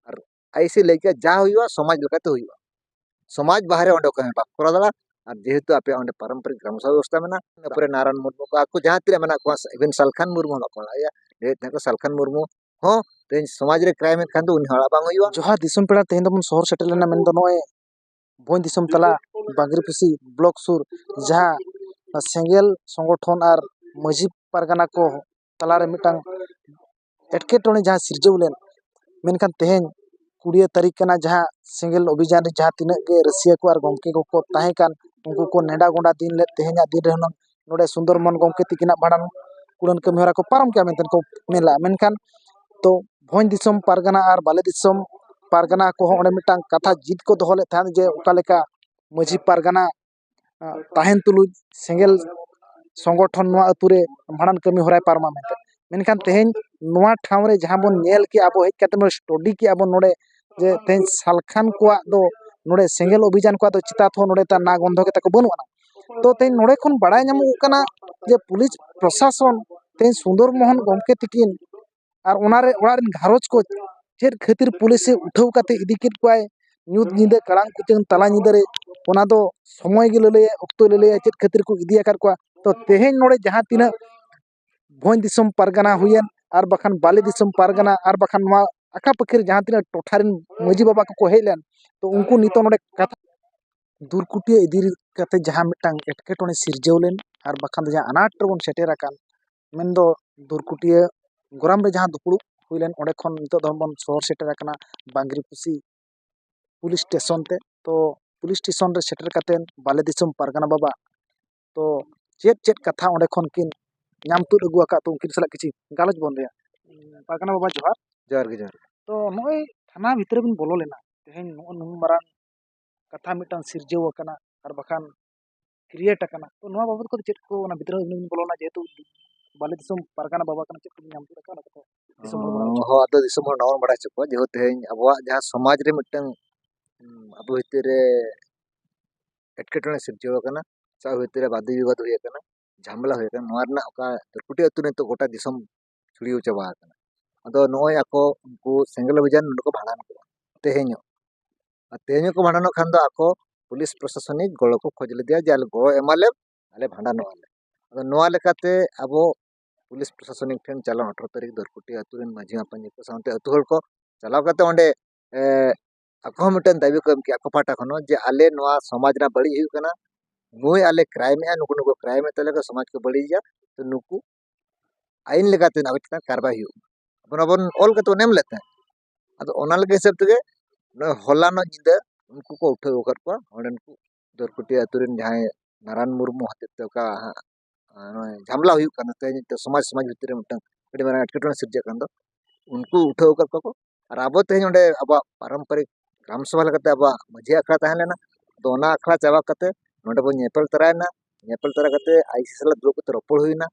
ᱟᱨ ᱟᱭ ᱮᱥ ᱮ ᱞᱟᱹᱭ ᱠᱮᱫᱟ ᱡᱟ ᱦᱩᱭᱩᱜᱼᱟ ᱥᱚᱢᱟᱡᱽ ᱞᱮᱠᱟᱛᱮ ᱦᱩᱭᱩᱜᱼᱟ ᱥᱚᱢᱟᱡᱽ ᱵᱟᱦᱨᱮ ᱚᱸᱰᱮ ᱚᱠᱚᱭ ᱦᱚᱸ ᱵᱟᱠᱚ ᱠᱚᱨᱟᱣ ᱫᱟᱲᱮᱭᱟᱜᱼᱟ ᱟᱨ ᱡᱮᱦᱮᱛᱩ ᱟᱯᱮᱭᱟᱜ ᱚᱸᱰᱮ ᱯᱟᱨᱚᱢᱯᱚᱨᱤᱠ ᱜᱨᱟᱢ ᱥᱚᱵᱷᱟ ᱵᱮᱵᱚᱥᱛᱟ ᱢᱮᱱᱟᱜᱼᱟ ᱤᱱᱟᱹ ᱯᱚᱨᱮ ᱱᱟᱨᱟᱱ ᱢᱩᱨᱢᱩ ᱠᱚ ᱟᱠᱚ ᱡᱟᱦᱟᱸ ᱛᱤᱱᱟᱹᱜ ᱢᱮᱱᱟᱜ ᱠᱚᱣᱟ ᱤᱵᱷᱮᱱ ᱥᱟᱞᱠᱷᱟᱱ ᱢᱩᱨᱢᱩ ᱦᱚᱸ ᱵᱟᱠᱚ ᱦᱚᱦᱚ ᱟᱭᱟ ᱞᱟᱹᱭᱮᱫ ᱛᱟᱦᱮᱸᱫ ᱠᱚ ᱥᱟᱞᱠᱷᱟᱱ ᱢᱩᱨᱢᱩ ᱦᱚᱸ ᱛᱮᱦᱮᱧ ᱥᱚᱢᱟᱡᱽ ᱨᱮ ᱠᱨᱟᱭᱤᱢ ᱮᱫ ᱠᱷᱟᱱ ᱫᱚ ᱩᱱᱤ ᱦᱚᱲᱟᱜ ᱵᱟᱝ ᱦᱩᱭᱩᱜᱼᱟ ᱡᱚᱦᱟᱨ ᱫᱤᱥᱚᱢ ᱯᱮᱲᱟ ᱛᱮᱦᱮᱧ ᱫᱚᱵᱚᱱ ᱥᱚᱦᱚᱨ ᱥᱮᱴᱮᱨ ᱞᱮᱱᱟ ᱢᱮᱱᱫᱚ ᱱᱚᱜᱼᱚᱭ ᱵᱷᱚᱸᱡᱽ ᱫᱤᱥᱚᱢ ᱛᱟᱞᱟ ᱵᱟᱸᱜᱽᱨᱤ ᱯᱚᱥᱤ ᱵᱞᱚᱠ ᱥᱩᱨ ᱡᱟᱦᱟᱸ ᱥᱮᱸᱜᱮᱞ ᱥᱚᱝᱜᱚᱴᱷᱚᱱ ᱟᱨ ᱢᱟᱹᱡᱷᱤ ᱯᱟᱨᱜᱟᱱᱟ ᱠᱚ ᱛᱟᱞᱟ ᱨᱮ ᱢᱤᱫᱴᱟᱝ ᱮᱴᱠᱮᱴᱚᱬᱮ ᱡᱟᱦᱟᱸ ᱥᱤᱨᱡᱟᱹᱣ ᱞᱮᱱ ᱢᱮᱱᱠᱷᱟᱱ ᱛᱮᱦᱮᱧ ᱠᱩᱲᱤᱭᱟᱹ ᱛᱟᱹᱨᱤᱠᱷ ᱠᱟᱱᱟ ᱡᱟᱦᱟᱸ ᱥᱮᱸᱜᱮᱞ ᱚᱵᱷᱤᱡᱟᱱ ᱨᱮ ᱡᱟᱦᱟᱸ ᱛᱤᱱᱟᱹᱜ ᱜᱮ ᱨᱟᱹᱥᱭᱟᱹ ᱠᱚ ᱟᱨ ᱜᱚᱢᱠᱮ ᱠᱚᱠᱚ ᱛᱟᱦᱮᱸ ᱠᱟᱱ ᱩᱱᱠᱩ ᱠᱚ ᱱᱮᱰᱟ ᱜᱚᱸᱰᱟ ᱫᱤᱱ ᱞᱮᱫ ᱛᱮᱦᱮᱧᱟᱜ ᱫᱤᱱ ᱨᱮ ᱦᱩᱱᱟᱹᱝ ᱱᱚᱸᱰᱮ ᱥᱩᱱᱫᱚᱨ ᱢᱳᱦᱚᱱ ᱜᱚᱢᱠᱮ ᱛᱤᱠᱤᱱᱟᱜ ᱵᱷᱟᱸᱰᱟᱱ ᱠᱩᱲᱟᱹᱱ ᱠᱟᱹᱢᱤ ᱦᱚᱨᱟ ᱠᱚ ᱯᱟᱨᱚᱢ ᱠᱮᱜᱼᱟ ᱢᱮᱱᱛᱮ ᱠᱚ ᱢᱮᱱ ᱞᱮᱜᱼᱟ ᱢᱮᱱᱠᱷᱟᱱ ᱛᱚ ᱵᱷᱚᱸᱡᱽ ᱫᱤᱥᱚᱢ ᱯᱟᱨᱜᱟᱱᱟ ᱟᱨ ᱵᱟᱞᱮ ᱫᱤᱥᱚᱢ ᱯᱟᱨᱜᱟᱱᱟ ᱠᱚᱦᱚᱸ ᱚᱸᱰᱮ ᱢᱤᱫᱴᱟᱝ ᱠᱟᱛᱷᱟ ᱡᱤᱛ ᱠᱚ ᱫᱚᱦᱚ ᱞᱮᱫ ᱛᱟᱦᱮᱸᱫ ᱡᱮ ᱚᱠᱟ ᱞᱮᱠᱟ ᱢᱟᱹᱡᱷᱤ ᱯᱟᱨᱜᱟᱱᱟ ᱛᱟᱦᱮᱱ ᱛᱩᱞᱩᱡ ᱥᱮᱸᱜᱮᱞ ᱥᱚᱝᱜᱚᱴᱷᱚᱱ ᱱᱚᱣᱟ ᱟᱛᱳ ᱨᱮ ᱵᱷᱟᱸᱰᱟᱱ ᱠᱟᱹᱢᱤ ᱦᱚᱨᱟᱭ ᱯᱟᱨᱚᱢᱟ ᱢᱮᱱᱛᱮ ᱢᱮᱱᱠᱷᱟᱱ ᱛᱮᱦᱮᱧ ᱱᱚᱣᱟ ᱴᱷᱟᱶ ᱨᱮ ᱡᱟᱦᱟᱸ ᱵᱚᱱ ᱧᱮᱞ ᱠᱮᱜᱼᱟ ᱟᱵᱚ ᱦᱮᱡ ᱠᱟᱛᱮ ᱵᱚᱱ ᱥᱴᱚᱰᱤ ᱠᱮᱜᱼᱟ ᱵᱚᱱ ᱱᱚᱸᱰᱮ ᱡᱮ ᱛᱮᱦᱮᱧ ᱥᱟᱞᱠᱷᱟᱱ ᱠᱚᱣᱟᱜ ᱫᱚ ᱱᱚᱸᱰᱮ ᱥᱮᱸᱜᱮᱞ ᱚᱵᱷᱤᱡᱟᱱ ᱠᱚᱣᱟᱜ ᱫᱚ ᱪᱤᱛᱟᱛ ᱦᱚᱸ ᱱᱚᱸᱰᱮ ᱱᱟ ᱜᱚᱱᱫᱷᱚ ᱜᱮᱛᱟ ᱠᱚ ᱵᱟᱹᱱᱩᱜ ᱟᱱᱟᱝ ᱛᱚ ᱛᱮᱦᱮᱧ ᱱᱚᱸᱰᱮ ᱠᱷᱚᱱ ᱵᱟᱲᱟᱭ ᱧᱟᱢᱚᱜᱚᱜ ᱠᱟᱱᱟ ᱡᱮ ᱯᱩᱞᱤᱥ ᱯᱨᱚᱥᱟᱥᱚᱱ ᱛᱮᱦᱮᱧ ᱥᱩᱱᱫᱚᱨ ᱢᱳᱦᱚᱱ ᱜᱚᱢᱠᱮ ᱛᱟᱹᱠᱤᱱ ᱟᱨ ᱚᱱᱟ ᱨᱮ ᱚᱲᱟᱜ ᱨᱮᱱ ᱜᱷᱟᱨᱚᱸᱡᱽ ᱠᱚ ᱪᱮᱫ ᱠᱷᱟᱹᱛᱤᱨ ᱯᱩᱞᱤᱥᱮ ᱩᱴᱷᱟᱹᱣ ᱠᱟᱛᱮ ᱤᱫᱤ ᱠᱮᱫ ᱠᱚᱣᱟᱭ ᱧᱩᱛ ᱧᱤᱫᱟᱹ ᱠᱟᱲᱟᱝ ᱠᱩᱪᱟᱹᱝ ᱛᱟᱞᱟ ᱧᱤᱫᱟᱹ ᱨᱮ ᱚᱱᱟ ᱫᱚ ᱥᱚᱢᱚᱭ ᱜᱮ ᱞᱟᱹᱞᱟᱹᱭᱟᱭ ᱚᱠᱛᱚᱭ ᱞᱟᱹᱞᱟᱹᱭᱟᱭ ᱪᱮᱫ ᱠᱷᱟᱹᱛᱤᱨ ᱠᱚ ᱤᱫᱤᱭᱟᱠᱟᱫ ᱠᱚᱣᱟ ᱛᱚ ᱛᱮᱦᱮᱧ ᱱᱚᱸᱰᱮ ᱡᱟᱦᱟᱸ ᱛᱤᱱᱟᱹᱜ ᱵᱷᱚᱸᱡᱽ ᱫᱤᱥᱚᱢ ᱯᱟᱨᱜᱟᱱᱟ ᱦᱩᱭᱮᱱ ᱟᱨ ᱵᱟᱠᱷᱟᱱ ᱵᱟᱞᱮ ᱫᱤᱥᱚᱢ ᱯᱟᱨᱜᱟᱱᱟ ᱟᱨ ᱵᱟᱠᱷᱟᱱ ᱱᱚᱣᱟ ᱟᱠᱟ ᱯᱟᱹᱠᱟᱹᱨ ᱡᱟᱦᱟᱸ ᱛᱤᱱᱟᱹᱜ ᱴᱚᱴᱷᱟ ᱨᱮᱱ ᱢᱟᱹᱡᱷᱤ ᱵᱟᱵᱟ ᱠᱚᱠᱚ ᱦᱮᱡ ᱞᱮᱱ ᱛᱚ ᱩᱱᱠᱩ ᱱᱤᱛᱳᱜ ᱱᱚᱸᱰᱮ ᱠᱟᱛᱷᱟ ᱫᱩᱨᱠᱩᱴᱤᱭᱟᱹ ᱤᱫᱤ ᱠᱟᱛᱮᱫ ᱡᱟᱦᱟᱸ ᱢᱤᱫᱴᱟᱝ ᱮᱴᱠᱮᱴᱚᱬᱮ ᱥᱤᱨᱡᱟᱹᱣ ᱞᱮᱱ ᱟᱨ ᱵᱟᱠᱷᱟᱱ ᱫᱚ ᱡᱟᱦᱟᱸ ᱟᱱᱟᱴ ᱨᱮᱵᱚᱱ ᱥᱮᱴᱮᱨ ᱟᱠᱟᱱ ᱢᱮᱱ ᱫᱚ ᱫᱩᱨᱠᱩᱴᱤᱭᱟᱹ ᱜᱚᱨᱟᱢ ᱨᱮ ᱡᱟᱦᱟᱸ ᱫᱩᱯᱲᱩᱵ ᱦᱩᱭ ᱞᱮᱱ ᱚᱸᱰᱮ ᱠᱷᱚᱱ ᱱᱤᱛᱳᱜ ᱫᱚ ᱵᱚᱱ ᱥᱚᱦᱚᱨ ᱥᱮᱴᱮᱨ ᱟᱠᱟᱱᱟ ᱵᱟᱸᱜᱽᱨᱤ ᱯᱚᱥᱤ ᱯᱩᱞᱤᱥ ᱴᱮᱥᱚᱱ ᱛᱮ ᱛᱚ ᱯᱩᱞᱤᱥ ᱴᱮᱥᱚᱱ ᱨᱮ ᱥᱮᱴᱮᱨ ᱠᱟᱛᱮᱫ ᱵᱟᱞᱮ ᱫᱤᱥᱚᱢ ᱯᱟᱨᱜᱟᱱᱟ ᱵᱟᱵᱟ ᱛᱚ ᱪᱮᱫ ᱪᱮᱫ ᱠᱟᱛᱷᱟ ᱚᱸᱰᱮ ᱠᱷᱚᱱ ᱠᱤᱱ ᱧᱟᱢ ᱛᱩᱫ ᱟᱹᱜᱩ ᱟᱠᱟᱫ ᱛᱮ ᱩᱱᱠᱤᱱ ᱥᱟᱞᱟᱜ ᱠᱤᱪᱷᱤ ᱜᱟᱞᱚᱪ ᱵᱚᱱ ᱨᱮᱭᱟᱜ ᱯᱟᱨᱜᱟᱱᱟ ᱵᱟᱵᱟ ᱡᱚᱦᱟᱨ ᱡᱚᱦᱟᱨ ᱜᱮ ᱡᱚᱦᱟᱨ ᱜᱮ ᱛᱚ ᱱᱚᱜᱼᱚᱭ ᱛᱷᱟᱱᱟ ᱵᱷᱤᱛᱨᱤ ᱵᱚᱱ ᱵᱚᱞᱚ ᱞᱮᱱᱟ ᱛᱮᱦᱮᱧ ᱱᱚᱜᱼᱚ ᱱᱩᱱ ᱢᱟᱨᱟᱝ ᱠᱟᱛᱷᱟ ᱢᱤᱫᱴᱟᱱ ᱥᱤᱨᱡᱟᱹᱣ ᱟᱠᱟᱱᱟ ᱟᱨ ᱵᱟᱠᱷᱟᱱ ᱠᱨᱤᱭᱮᱴ ᱟᱠᱟᱱᱟ ᱛᱚ ᱱᱚᱣᱟ ᱵᱟᱵᱚᱫ ᱠᱚᱫᱚ ᱪᱮᱫ ᱠᱚ ᱚᱱᱟ ᱵᱷᱤᱛᱨᱤ ᱵᱚᱱ ᱵᱚᱞᱚ ᱞᱮᱱᱟ ᱡᱮᱦᱮᱛᱩ ᱵᱟᱞᱮ ᱫᱤᱥᱚᱢ ᱯᱟᱨᱜᱟᱱᱟ ᱵᱟᱵᱟ ᱠᱟᱱᱟ ᱪᱮᱫ ᱠᱚᱵᱚᱱ ᱧᱟᱢ ᱛᱩᱫ ᱟᱠᱟᱫᱟ ᱚᱱᱟ ᱠᱟᱛᱷᱟ ᱫᱤᱥᱚᱢ ᱦᱚᱲ ᱵᱟᱲᱟᱭ ᱦᱚᱪᱚ ᱦᱚᱸ ᱟᱫᱚ ᱫᱤᱥᱚᱢ ᱦᱚᱲ ᱱᱚᱣᱟ ᱵᱚᱱ ᱵᱟᱲᱟᱭ ᱦᱚᱪᱚ ᱠᱚᱣᱟ ᱡᱮᱦᱮᱛᱩ ᱛᱮᱦᱮᱧ ᱟᱵᱚᱣᱟᱜ ᱡᱟᱦᱟᱸ ᱥᱚᱢᱟᱡᱽ ᱨᱮ ᱢᱤᱫᱴᱟᱝ ᱟᱵᱚ ᱵᱷᱤᱛᱤᱨ ᱨᱮ ᱮᱴᱠᱮᱴᱚᱬᱮ ᱥᱤᱨᱡᱟᱹᱣ ᱟᱠᱟᱱᱟ ᱥᱟᱶ ᱵᱷᱤᱛᱤᱨ ᱨᱮ ᱵᱟᱫᱽ ᱵᱤᱵᱟᱹᱫᱽ ᱦᱩᱭ ᱟᱠᱟᱱᱟ ᱡᱷᱟᱢᱮᱞᱟ ᱦᱩᱭ ᱟᱠᱟᱱᱟ ᱱᱚᱣᱟ ᱨᱮᱱᱟᱜ ᱚᱠᱟ ᱫᱷᱩᱨᱠᱩᱴᱤ ᱟᱹᱛᱩ ᱨᱮ ᱱᱤᱛᱚᱜ ᱜᱚᱴᱟ ᱫᱤᱥᱚᱢ ᱪᱷᱩᱲᱭᱟᱹᱣ ᱪᱟᱵᱟ ᱟᱠᱟᱱᱟ ᱟᱫᱚ ᱱᱚᱜᱼᱚᱭ ᱟᱠᱚ ᱩᱱᱠᱩ ᱥᱮᱸᱜᱮᱞ ᱚᱵᱷᱤᱡᱟᱱ ᱱᱚᱸᱰᱮ ᱠᱚ ᱵᱷᱟᱸᱰᱟᱱ ᱠᱚᱣᱟ ᱛᱮᱦᱮᱧ ᱦᱚᱸ ᱟᱨ ᱛᱮᱦᱮᱧ ᱦᱚᱸᱠᱚ ᱵᱷᱟᱸᱰᱟᱱᱚᱜ ᱠᱷᱟᱱ ᱫᱚ ᱟᱠᱚ ᱯᱩᱞᱤᱥ ᱯᱨᱚᱥᱟᱥᱚᱱᱤᱠ ᱜᱚᱲᱚ ᱠᱚ ᱠᱷᱚᱡᱽ ᱞᱮᱫᱮᱭᱟ ᱡᱮ ᱟᱞᱮ ᱜᱚᱲᱚ ᱮᱢᱟ ᱞᱮᱢ ᱟᱞᱮ ᱵᱷᱟᱸᱰᱟᱱᱚᱜᱼᱟ ᱞᱮ ᱟᱫᱚ ᱱᱚᱣᱟ ᱞᱮᱠᱟᱛᱮ ᱟᱵᱚ ᱯᱩᱞᱤᱥ ᱯᱨᱚᱥᱟᱥᱚᱱᱤᱠ ᱴᱷᱮᱱ ᱪᱟᱞᱟᱣ ᱟᱴᱷᱨᱚ ᱛᱟᱹᱨᱤᱠᱷ ᱫᱷᱩᱨᱠᱩᱴᱤ ᱟᱹᱛᱩ ᱨᱮᱱ ᱢᱟᱹᱡᱷᱤ ᱢᱟᱯᱟᱡᱤ ᱠᱚ ᱥᱟᱶᱛᱮ ᱟᱹᱛᱩ ᱦᱚᱲ ᱠᱚ ᱪᱟᱞᱟᱣ ᱠᱟᱛᱮᱫ ᱚᱸᱰᱮ ᱟᱠᱚ ᱦᱚᱸ ᱢᱤᱫᱴᱮᱱ ᱫᱟᱹᱵᱤ ᱠᱚ ᱮᱢ ᱠᱮᱜᱼᱟ ᱟᱠᱚ ᱯᱟᱦᱴᱟ ᱠᱷᱚᱱ ᱦᱚᱸ ᱡᱮ ᱟᱞᱮ ᱱᱚᱣᱟ ᱥᱚᱢᱟᱡᱽ ᱨᱮᱱᱟᱜ ᱵᱟᱹᱲᱤᱡ ᱦᱩᱭᱩᱜ ᱠᱟᱱᱟ ᱱᱩᱭ ᱟᱞᱮ ᱠᱨᱟᱭᱤᱢᱮᱜᱼᱟ ᱱᱩᱠᱩ ᱱᱩᱠᱩ ᱠᱨᱟᱭᱤᱢᱮᱜ ᱛᱟᱞᱮᱭᱟ ᱠᱚ ᱥᱚᱢᱟᱡᱽ ᱠᱚ ᱵᱟᱹᱲᱤᱡᱮᱜᱼᱟ ᱛᱚ ᱱᱩᱠᱩ ᱟᱹᱭᱤᱱ ᱞᱮᱠᱟᱛᱮ ᱟᱵᱚ ᱪᱮᱛᱟᱱ ᱠᱟᱨᱵᱟᱭ ᱦᱩᱭᱩᱜ ᱢᱟ ᱚᱱᱟ ᱵᱚᱱ ᱚᱞ ᱠᱟᱛᱮ ᱵᱚᱱ ᱮᱢ ᱞᱮᱫ ᱛᱟᱦᱮᱸᱫ ᱟᱫᱚ ᱚᱱᱟ ᱞᱮᱠᱟ ᱦᱤᱥᱟᱹᱵ ᱛᱮᱜᱮ ᱱᱚᱜᱼᱚᱭ ᱦᱚᱞᱟᱱᱚᱜ ᱧᱤᱫᱟᱹ ᱩᱱᱠᱩ ᱠᱚ ᱩᱴᱷᱟᱹᱣ ᱟᱠᱟᱫ ᱠᱚᱣᱟ ᱚᱸᱰᱮᱱ ᱠᱚ ᱫᱚᱨᱠᱩᱴᱤᱭᱟᱹ ᱟᱹᱛᱩ ᱨᱮᱱ ᱡᱟᱦᱟᱸᱭ ᱱᱟᱨᱟᱱ ᱢᱩᱨᱢᱩ ᱦᱚᱛᱮᱡ ᱛᱮ ᱚᱠᱟ ᱦᱟᱸᱜ ᱱᱚᱜᱼᱚᱭ ᱡᱷᱟᱢᱞᱟ ᱦᱩᱭᱩᱜ ᱠᱟᱱᱟ ᱛᱮᱦᱮᱧ ᱢᱤᱫᱴᱟᱝ ᱥᱚᱢᱟᱡᱽ ᱥᱚᱢᱟᱡᱽ ᱵᱷᱤᱛᱤᱨ ᱨᱮ ᱢᱤᱫᱴᱟᱝ ᱟᱹᱰᱤ ᱢᱟᱨᱟᱝ ᱮᱴᱠᱮᱴᱚᱬᱮ ᱥᱤᱨᱡᱟᱹᱜ ᱠᱟᱱ ᱫᱚ ᱩᱱᱠᱩ ᱩᱴᱷᱟᱹᱣ ᱟᱠᱟᱫ ᱠᱚᱣᱟ ᱠᱚ ᱟᱨ ᱟᱵᱚ ᱛᱮᱦᱮᱧ ᱚᱸᱰᱮ ᱟᱵᱚᱣᱟᱜ ᱯᱟᱨᱚᱢᱯᱚᱨᱤᱠ ᱜᱨᱟᱢ ᱥᱚᱵᱷᱟ ᱞᱮᱠᱟᱛᱮ ᱟᱵᱚᱣᱟᱜ ᱢᱟᱹᱡᱷᱤ ᱟᱠᱷᱲᱟ ᱛᱟᱦᱮᱸ ᱞᱮᱱᱟ ᱛᱚ ᱚᱱᱟ ᱟᱠᱷᱲᱟ ᱪᱟᱵᱟ ᱠᱟᱛᱮ ᱱᱚᱸᱰᱮ ᱵᱚᱱ ᱧᱮᱯᱮᱞ ᱛᱚᱨᱟᱭᱮᱱᱟ ᱧᱮᱯᱮᱞ ᱛᱚᱨᱟ ᱠᱟᱛᱮ ᱟᱭ ᱥᱤ ᱥᱟᱞᱟᱜ ᱫᱩᱲᱩᱵ ᱠᱟᱛᱮ ᱨᱚᱯᱚᱲ ᱦᱩᱭᱮᱱᱟ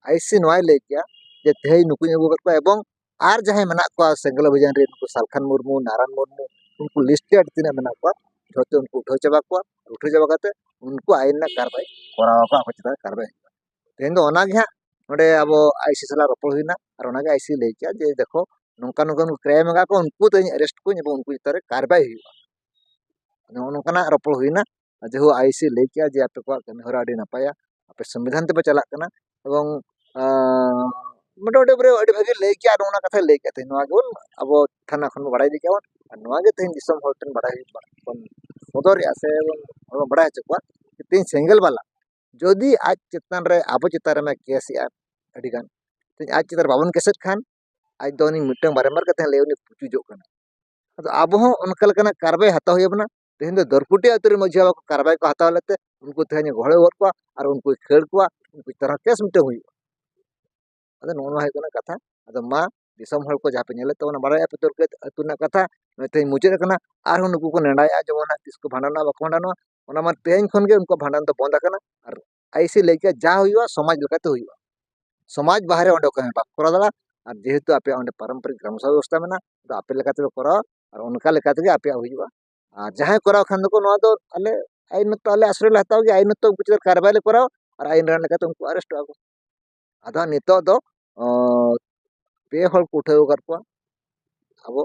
ᱟᱭ ᱥᱤ ᱱᱚᱣᱟᱭ ᱞᱟᱹᱭ ᱠᱮᱜᱼᱟ ᱡᱮ ᱛᱮᱦᱮᱧ ᱱᱩᱠᱩᱧ ᱟᱹᱜᱩ ᱟᱠᱟᱫ ᱠᱚᱣᱟ ᱮᱵᱚᱝ ᱟᱨ ᱡᱟᱦᱟᱸᱭ ᱢᱮᱱᱟᱜ ᱠᱚᱣᱟ ᱥᱮᱸᱜᱮᱞ ᱚᱵᱷᱤᱡᱟᱱ ᱨᱮ ᱱᱩᱠᱩ ᱥᱟᱞᱠᱷᱟᱱ ᱢᱩᱨᱢᱩ ᱱᱟᱨᱟᱱ ᱢᱩᱨᱢᱩ ᱩᱱᱠᱩ ᱞᱤᱥᱴᱮᱰ ᱛᱤᱱᱟᱹᱜ ᱢᱮᱱᱟᱜ ᱠᱚᱣᱟ ᱡᱷᱚᱛᱚ ᱩᱱᱠᱩ ᱩᱴᱷᱟᱹᱣ ᱪᱟᱵᱟ ᱠᱚᱣᱟ ᱩᱴᱷᱟᱹᱣ ᱪᱟᱵᱟ ᱠᱟᱛᱮ ᱩᱱᱠᱩ ᱟᱭᱤᱱ ᱨᱮᱱᱟᱜ ᱠᱟᱨᱵᱟᱭ ᱠᱚᱨᱟᱣ ᱟᱠᱚ ᱟᱠᱚ ᱪᱮᱛᱟᱱ ᱨᱮ ᱠᱟᱨᱵᱟᱭ ᱦᱩᱭᱩᱜᱼᱟ ᱛᱮᱦᱮᱧ ᱫᱚ ᱚᱱᱟᱜᱮ ᱦᱟᱸᱜ ᱱᱚᱰᱮ ᱟᱵᱚ ᱟᱭ ᱥᱤ ᱥᱟᱞᱟᱜ ᱨᱚᱯᱚᱲ ᱦᱩᱭᱱᱟ ᱟᱨ ᱚᱱᱟᱜᱮ ᱟᱭ ᱥᱤ ᱞᱟᱹᱭ ᱠᱮᱜᱼᱟ ᱡᱮ ᱫᱮᱠᱷᱚ ᱱᱚᱝᱠᱟ ᱱᱚᱝᱠᱟ ᱱᱩᱠᱩ ᱠᱨᱟᱭᱤᱢ ᱟᱠᱟᱫ ᱠᱚ ᱩᱱᱠᱩ ᱛᱮᱦᱮᱧ ᱮᱨᱮᱥᱴ ᱠᱚᱣᱟᱹᱧ ᱮᱵᱚᱝ ᱩᱱᱠᱩ ᱪᱮᱛᱟᱱ ᱨᱮ ᱠᱟᱨᱵᱟᱭ ᱦᱩᱭᱩᱜᱼᱟ ᱱᱚᱜᱼᱚ ᱱᱚᱝᱠᱟᱱᱟᱜ ᱨᱚᱯᱚᱲ ᱦᱩᱭᱱᱟ ᱡᱮᱦᱳ ᱟᱭ ᱮᱥ ᱮ ᱞᱟᱹᱭ ᱠᱮᱜᱼᱟ ᱡᱮ ᱟᱯᱮ ᱠᱚᱣᱟᱜ ᱠᱟᱹᱢᱤ ᱦᱚᱨᱟ ᱟᱹᱰᱤ ᱱᱟᱯᱟᱭᱟ ᱟᱯᱮ ᱥᱚᱝᱵᱤᱫᱷᱟᱱ ᱛᱮᱯᱮ ᱪᱟᱞᱟᱜ ᱠᱟᱱᱟ ᱮᱵᱚᱝ ᱢᱚᱴᱟᱢᱩᱴᱤ ᱯᱩᱨᱟᱹ ᱟᱹᱰᱤ ᱵᱷᱟᱹᱜᱤ ᱞᱟᱹᱭ ᱠᱮᱜᱼᱟ ᱟᱨ ᱚᱱᱟ ᱠᱟᱛᱷᱟᱭ ᱞᱟᱹᱭ ᱠᱮᱜᱼᱟ ᱛᱮᱦᱮᱧ ᱱᱚᱣᱟ ᱜᱮᱵᱚᱱ ᱟᱵᱚ ᱛᱷᱟᱱᱟ ᱠᱷᱚᱱ ᱵᱚᱱ ᱵᱟᱲᱟᱭ ᱤᱫᱤ ᱠᱮᱜᱼᱟ ᱵᱚᱱ ᱟᱨ ᱱᱚᱣᱟ ᱜᱮ ᱛᱮᱦᱮᱧ ᱫᱤᱥᱚᱢ ᱦᱚᱲ ᱴᱷᱮᱱ ᱵᱟᱲᱟᱭ ᱦᱩᱭᱩᱜ ᱠᱟᱱᱟ ᱵᱚᱱ ᱥᱚᱫᱚᱨᱮᱜᱼᱟ ᱥᱮ ᱵᱚᱱ ᱵᱟᱲᱟᱭ ᱦᱚᱪᱚ ᱠᱚᱣᱟ ᱛᱮᱦᱮᱧ ᱥᱮᱸᱜᱮᱞ ᱵᱟᱞᱟ ᱡᱩᱫᱤ ᱟᱡ ᱪᱮᱛᱟᱱ ᱨᱮ ᱟᱵᱚ ᱪᱮᱛᱟᱱ ᱨᱮ ᱠᱮᱥ ᱮᱜᱼᱟ ᱟᱹᱰᱤ ᱜᱟᱱ ᱛᱮᱦᱮᱧ ᱟᱡ ᱪᱮᱛᱟᱱ ᱨᱮ ᱵᱟᱵᱚᱱ ᱠᱮᱥᱮᱫ ᱠᱷᱟᱱ ᱟᱡ ᱫᱚ ᱩᱱᱤ ᱢᱤᱫᱴᱟᱝ ᱵᱟᱨᱮᱢᱵᱟᱨ ᱠᱟᱛᱮ ᱞᱟᱹᱭ ᱩᱱᱤ ᱯᱩᱪᱩᱡᱚᱜ ᱠᱟᱱᱟᱭ ᱟᱫᱚ ᱟᱵᱚ ᱦᱚᱸ ᱚᱱᱠᱟ ᱞᱮᱠᱟᱱᱟᱜ ᱠᱟᱨᱵᱟᱭ ᱦᱟᱛᱟᱣ ᱦᱩᱭ ᱟᱵᱚᱱᱟ ᱛᱮᱦᱮᱧ ᱫᱚ ᱫᱚᱨᱠᱩᱴᱤ ᱟᱹᱛᱩ ᱨᱮ ᱢᱟᱹᱡᱷᱤ ᱵᱟᱵᱟ ᱠᱚ ᱠᱟᱨᱵᱟᱭ ᱠᱚ ᱦᱟᱛᱟᱣ ᱞᱮᱫ ᱛᱮ ᱩᱱᱠᱩ ᱛᱮᱦᱮᱧ ᱜᱚᱦᱚᱲ ᱜᱚᱫ ᱠᱚᱣᱟ ᱟᱨ ᱩᱱᱠᱩ ᱠᱷᱟᱹᱲ ᱠᱚᱣᱟ ᱩᱱᱠᱩ ᱪᱮᱛᱟᱱ ᱨᱮ ᱠᱮᱥ ᱢᱤᱫᱴᱟᱝ ᱦᱩᱭᱩᱜᱼᱟ ᱟᱫᱚ ᱱᱚᱜᱼᱚ ᱱᱚᱣᱟ ᱦᱩᱭᱩᱜ ᱠᱟᱱᱟ ᱠᱟᱛᱷᱟ ᱟᱫᱚ ᱢᱟ ᱫᱤᱥᱚᱢ ᱦᱚᱲ ᱠᱚ ᱡᱟᱦᱟᱸ ᱯᱮ ᱧᱮᱞᱮᱫ ᱛᱟᱵᱚᱱᱟ ᱵᱟᱲᱟᱭᱮᱫᱼᱟ ᱯᱮ ᱫᱚᱨᱠᱩᱴᱤ ᱟᱹᱛᱩ ᱨᱮᱱᱟᱜ ᱠᱟᱛᱷᱟ ᱱᱚᱜᱼᱚᱭ ᱛᱮᱦᱮᱧ ᱢᱩᱪᱟᱹᱫ ᱟᱠᱟᱱᱟ ᱟᱨᱦᱚᱸ ᱱᱩᱠᱩ ᱠᱚ ᱱᱮᱰᱟᱭᱮᱫᱼᱟ ᱡᱮᱢᱚᱱ ᱦᱟᱸᱜ ᱛᱤᱥ ᱠᱚ ᱵᱷᱟᱸᱰᱟᱱᱚᱜᱼᱟ ᱵᱟᱠᱚ ᱵᱷᱟᱸᱰᱟᱱᱚᱜᱼᱟ ᱚᱱᱟ ᱢᱟ ᱛᱮᱦᱮᱧ ᱠᱷᱚᱱ ᱜᱮ ᱩᱱᱠᱩᱣᱟᱜ ᱵᱷᱟᱸᱰᱟᱱ ᱫᱚ ᱵᱚᱱᱫᱽ ᱟᱠᱟᱱᱟ ᱟᱨ ᱟᱭᱥᱮ ᱞᱟᱹᱭ ᱠᱮᱫᱟ ᱡᱟ ᱦᱩᱭᱩᱜᱼᱟ ᱥᱚᱢᱟᱡᱽ ᱞᱮᱠᱟᱛᱮ ᱦᱩᱭᱩᱜᱼᱟ ᱥᱚᱢᱟᱡᱽ ᱵᱟᱦᱨᱮ ᱚᱸᱰᱮ ᱚᱠᱚᱭ ᱦᱚᱸ ᱵᱟᱠᱚ ᱠᱚᱨᱟᱣ ᱫᱟᱲᱮᱭᱟᱜᱼᱟ ᱟᱨ ᱡᱮᱦᱮᱛᱩ ᱟᱯᱮᱭᱟᱜ ᱚᱸᱰᱮ ᱯᱟᱨᱚᱢᱯᱚᱨᱤᱠ ᱜᱨᱟᱢ ᱥᱚᱵᱷᱟ ᱵᱮᱵᱚᱥᱛᱟ ᱢᱮᱱᱟᱜᱼᱟ ᱟᱫᱚ ᱟᱯᱮ ᱞᱮᱠᱟ ᱛᱮᱯᱮ ᱠᱚᱨᱟᱣᱟ ᱟᱨ ᱚᱱᱠᱟ ᱞᱮᱠᱟ ᱛᱮᱜᱮ ᱟᱯᱮᱭᱟᱜ ᱦᱩᱭᱩᱜᱼᱟ ᱟᱨ ᱡᱟᱦᱟᱸᱭ ᱠᱚᱨᱟᱣ ᱠᱷᱟᱱ ᱫᱚᱠᱚ ᱱᱚᱣᱟ ᱫᱚ ᱟᱞᱮ ᱟᱭᱤᱱᱚᱛᱛᱚ ᱟᱞᱮ ᱟᱥᱨᱚᱭ ᱞᱮ ᱦᱟᱛᱟᱣ ᱜᱮᱭᱟ ᱟᱭᱤᱱᱚᱛᱛᱚ ᱩᱱᱠᱩ ᱪᱮᱛᱟᱱ ᱨᱮ ᱠᱟᱨᱵᱟᱭ ᱞᱮ ᱠᱚᱨᱟᱣᱟ ᱟᱨ ᱟᱭᱤᱱ ᱨᱮᱱᱟᱜ ᱞᱮᱠᱟᱛᱮ ᱩᱱᱠᱩ ᱟᱨᱮᱥᱴᱚᱜᱼᱟ ᱠᱚ ᱟᱫᱚ ᱦᱟᱸᱜ ᱱᱤᱛᱚᱜ ᱫᱚ ᱯᱮ ᱦᱚᱲ ᱠᱚ ᱩᱴᱷᱟᱹᱣ ᱟᱠᱟᱫ ᱠᱚᱣᱟ ᱟᱵᱚ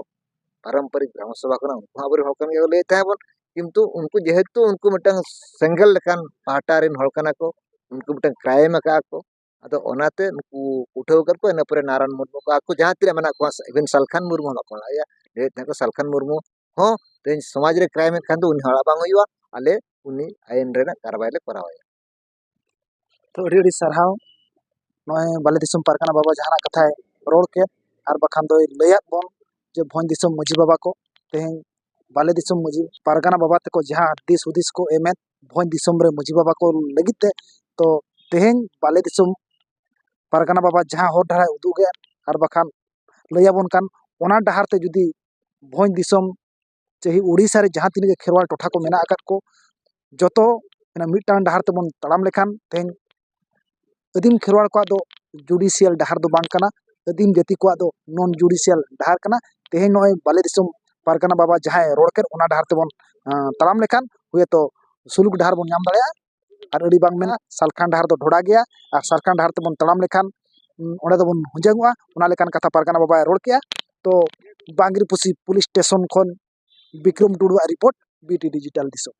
ᱯᱟᱨᱚᱢᱯᱚᱨᱤᱠ ᱜᱨᱟᱢ ᱥᱚᱵᱷᱟ ᱠᱟᱱᱟ ᱩᱱᱠᱩ ᱦᱚᱸ ᱟᱵᱚᱨᱮᱱ ᱦᱚᱲ ᱠᱟᱱ ᱜᱮᱭᱟ ᱠᱚ ᱞᱟᱹᱭᱮᱫ ᱛᱟᱦᱮᱸ ᱵᱚᱱ ᱠᱤᱱᱛᱩ ᱩᱱᱠᱩ ᱡᱮᱦᱮᱛᱩ ᱩᱱᱠᱩ ᱢᱤᱫᱴᱟᱝ ᱥᱮᱸᱜᱮᱞ ᱞᱮᱠᱟᱱ ᱯᱟᱦᱴᱟ ᱨᱮᱱ ᱦᱚᱲ ᱠᱟᱱᱟ ᱠᱚ ᱩᱱᱠᱩ ᱢᱤᱫᱴᱟᱝ ᱠᱨᱟᱭᱤᱢ ᱟᱠᱟᱫᱼᱟ ᱠᱚ ᱟᱫᱚ ᱚᱱᱟᱛᱮ ᱱᱩᱠᱩ ᱩᱴᱷᱟᱹᱣ ᱟᱠᱟᱫ ᱠᱚᱣᱟ ᱤᱱᱟᱹ ᱯᱚᱨᱮ ᱱᱟᱨᱟᱱ ᱢᱩᱨᱢᱩ ᱠᱚ ᱟᱠᱚ ᱡᱟᱦᱟᱸ ᱛᱤᱱᱟᱹᱜ ᱢᱮᱱᱟᱜ ᱠᱚᱣᱟ ᱤᱵᱷᱮᱱ ᱥᱟᱞᱠᱷᱟᱱ ᱢᱩᱨᱢᱩ ᱦᱚᱸ ᱵᱟᱠᱚ ᱞᱟᱹᱭᱟ ᱞᱟᱹᱭᱮᱫ ᱛᱟᱦᱮᱸ ᱠᱚ ᱥᱟᱞᱠᱷᱟᱱ ᱢᱩᱨᱢᱩ ᱦᱚᱸ ᱛᱮᱦᱮᱧ ᱥᱚᱢᱟᱡᱽ ᱨᱮ ᱠᱨᱟᱭᱤᱢ ᱮᱫ ᱠᱷᱟᱱ ᱫᱚ ᱩᱱᱤ ᱦᱚᱲᱟᱜ ᱵᱟᱝ ᱦᱩᱭᱩᱜᱼᱟ ᱟᱞᱮ ᱩᱱᱤ ᱟᱭᱤᱱ ᱨᱮᱱᱟᱜ ᱠᱟᱨᱵᱟᱭ ᱞᱮ ᱠᱚᱨᱟᱣ ᱟᱭᱟ ᱛᱚ ᱟᱹᱰᱤ ᱟᱹᱰᱤ ᱥᱟᱨᱦᱟᱣ ᱱᱚᱜᱼᱚᱭ ᱵᱟᱞᱮ ᱫᱤᱥᱚᱢ ᱯᱟᱨᱜᱟᱱᱟ ᱵᱟᱵᱟ ᱡᱟᱦᱟᱱᱟᱜ ᱠᱟᱛᱷᱟᱭ ᱨᱚᱲ ᱠᱮᱫ ᱟᱨ ᱵᱟᱠᱷᱟᱱ ᱫᱚᱭ ᱞᱟᱹᱭᱟᱫ ᱵᱚᱱ ᱡᱮ ᱵᱷᱚᱸᱡᱽ ᱫᱤᱥᱚᱢ ᱢᱟᱹᱡᱷᱤ ᱵᱟᱵᱟ ᱠᱚ ᱛᱮᱦᱮᱧ ᱵᱟᱞᱮ ᱫᱤᱥᱚᱢ ᱢᱟᱹᱡᱷᱤ ᱯᱟᱨᱜᱟᱱᱟ ᱵᱟᱵᱟ ᱛᱟᱠᱚ ᱡᱟᱦᱟᱸ ᱫᱤᱥ ᱦᱩᱫᱤᱥ ᱠᱚ ᱮᱢᱮᱫ ᱵᱷᱚᱸᱡᱽ ᱫᱤᱥᱚᱢ ᱨᱮ ᱢᱟᱹᱡᱷᱤ ᱵᱟᱵᱟ ᱠᱚ ᱞᱟᱹᱜᱤᱫ ᱛᱮ ᱛᱚ ᱛᱮᱦᱮᱧ ᱵᱟᱞᱮ ᱫᱤᱥᱚᱢ ᱯᱟᱨᱜᱟᱱᱟ ᱵᱟᱵᱟ ᱡᱟᱦᱟᱸ ᱦᱚᱨ ᱰᱟᱦᱟᱨ ᱮ ᱩᱫᱩᱜᱮᱫ ᱟᱨ ᱵᱟᱠᱷᱟᱱ ᱞᱟᱹᱭᱟᱵᱚᱱ ᱠᱟᱱ ᱚᱱᱟ ᱰᱟᱦᱟᱨ ᱛᱮ ᱡᱩᱫᱤ ᱵᱷᱚᱸᱡᱽ ᱫᱤᱥᱚᱢ ᱪᱟᱹᱦᱤ ᱳᱰᱤᱥᱟ ᱨᱮ ᱡᱟᱦᱟᱸ ᱛᱤᱱᱟᱹᱜ ᱜᱮ ᱠᱷᱮᱨᱣᱟᱲ ᱴᱚᱴᱷᱟ ᱠᱚ ᱢᱮᱱᱟᱜ ᱟᱠᱟᱫ ᱠᱚ ᱡᱚᱛᱚ ᱚᱱᱟ ᱢᱤᱫᱴᱟᱝ ᱰᱟᱦᱟᱨ ᱛᱮᱵᱚᱱ ᱛᱟᱲᱟᱢ ᱞᱮᱠᱷᱟᱱ ᱛᱮᱦᱮᱧ ᱟᱹᱫᱤᱢ ᱠᱷᱮᱨᱣᱟᱲ ᱠᱚᱣᱟᱜ ᱫᱚ ᱡᱩᱰᱤᱥᱤᱭᱟᱞ ᱰᱟᱦᱟᱨ ᱫᱚ ᱵᱟᱝ ᱠᱟᱱᱟ ᱟᱹᱫᱤᱢ ᱡᱟᱹᱛᱤ ᱠᱚᱣᱟᱜ ᱫᱚ ᱱᱚᱱ ᱡᱩᱰᱤᱥᱤᱭᱟᱞ ᱰᱟᱦᱟᱨ ᱠᱟᱱᱟ ᱛᱮᱦᱮᱧ ᱱᱚᱜᱼᱚᱭ ᱵᱟᱞᱮ ᱫᱤᱥᱚᱢ ᱯᱟᱨᱜᱟᱱᱟ ᱵᱟᱵᱟ ᱡᱟᱦᱟᱸᱭ ᱨᱚᱲ ᱠᱮᱫ ᱚᱱᱟ ᱰᱟᱦᱟᱨ ᱛᱮᱵᱚᱱ ᱛᱟᱲᱟᱢ ᱞᱮᱠᱷᱟᱱ ᱦᱳᱭᱛᱳ ᱥᱩᱞᱩᱠ ᱰᱟᱦᱟᱨ ᱵᱚᱱ ᱧᱟᱢ ᱫᱟᱲᱮᱭᱟᱜᱼᱟ ᱟᱨ ᱟᱹᱰᱤ ᱵᱟᱝ ᱢᱮᱱᱟ ᱥᱟᱞᱠᱷᱟᱱ ᱰᱟᱦᱟᱨ ᱫᱚ ᱰᱷᱚᱲᱟ ᱜᱮᱭᱟ ᱟᱨ ᱥᱟᱞᱠᱷᱟᱱ ᱰᱟᱦᱟᱨ ᱛᱮᱵᱚᱱ ᱛᱟᱲᱟᱢ ᱞᱮᱠᱷᱟᱱ ᱚᱸᱰᱮ ᱫᱚᱵᱚᱱ ᱦᱩᱡᱟᱹᱝᱚᱜᱼᱟ ᱚᱱᱟ ᱞᱮᱠᱟᱱ ᱠᱟᱛᱷᱟ ᱯᱟᱨᱜᱟᱱᱟ ᱵᱟᱵᱟᱭ ᱨᱚᱲ ᱠᱮᱜᱼᱟ ᱛᱚ ᱵᱟᱸᱫᱽᱨᱤᱯᱳᱥᱤ ᱯᱩᱞᱤᱥ ᱥᱴᱮᱥᱚᱱ ᱠᱷᱚᱱ ᱵᱤᱠᱨᱚᱢ ᱴᱩᱰᱩᱣᱟᱜ ᱨᱤᱯᱳᱨᱴ ᱵᱤᱴᱤ ᱰᱤᱡᱤᱴᱟᱞ ᱫᱤᱥᱚᱢ